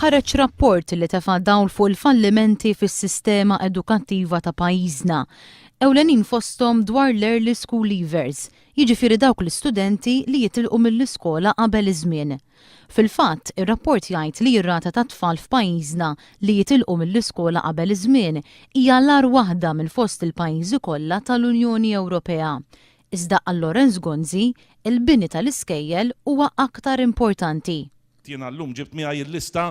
ħareġ rapport li tefa' dawl fuq il-fallimenti fis-sistema edukattiva ta' pajjiżna. Ewlenin fosthom dwar l-early school leavers, jiġifieri dawk l-istudenti li jitilqu mill-iskola qabel iż-żmien. Fil-fatt, ir-rapport jgħid li r-rata tat-tfal f'pajjiżna li jitilqu mill-iskola qabel iż-żmien hija l-agħar waħda minn fost il-pajjiżi kollha tal-Unjoni Ewropea. Iżda għal Lawrence Gonzi, il-bini tal-iskejjel huwa aktar importanti. Jiena llum ġibt miegħi l-lista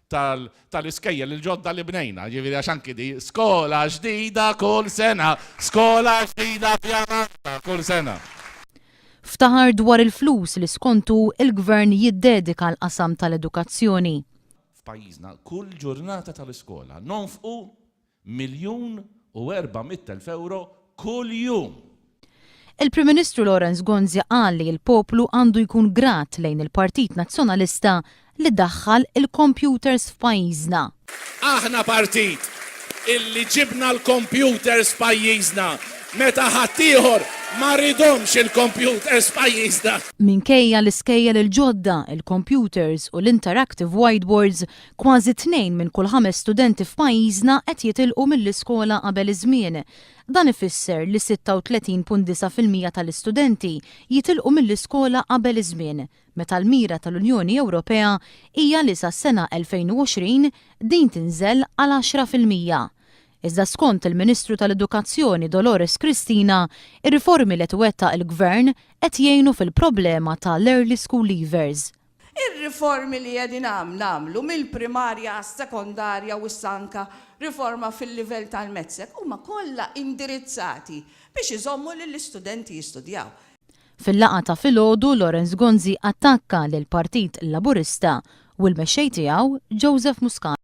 tal-iskejjel il-ġodda li bnejna, jiġifieri għax anki di, skola ġdida kull sena, skola ġdida f'Jamanta kull sena. Ftaħar dwar il-flus li skontu l-Gvern jiddedika l-qasam tal-edukazzjoni. F'pajjiżna kull ġurnata tal-iskola nonfqu miljun u erba' mitt elf ewro kuljum. Il-Prim Ministru Lawrence Gonzi qal li l-poplu għandu jkun grat lejn il-Partit Nazzjonalista li daħħal il-kompjuters f'pajjiżna. Aħna partit illi ġibna l-kompjuters f'pajjiżna meta ħaddieħor ma ridhomx il-kompjuters f'pajjiżna. Minkejja l-iskejjel il-ġodda, il-kompjuters u l-interactive whiteboards, kważi tnejn minn kull ħames studenti f'pajjiżna qed jitilqu mill-iskola qabel iż-żmien. Dan ifisser li 36.9 fil-mija tal-istudenti jitilqu mill-iskola qabel iż-żmien. meta l-mira tal-Unjoni Ewropea hija li sas-sena 2020 din tinżel għal għaxra fil-mija. Iżda skont il-Ministru tal-Edukazzjoni Dolores Cristina, ir-riformi li qed iwettaq il-Gvern qed jgħinu fil-problema ta' l-early school leavers. Ir-riformi li qegħdin nagħmlu mill-primarja għas-sekondarja u issa anke riforma fil-livell tal-METSEC huma kollha indirizzati biex iżommu lill-istudenti jistudjaw. Fil-laqgħa ta' filgħodu Lawrence Gonzi attakka lill-Partit Laburista u l-Mexxej tiegħu Joseph Muscat.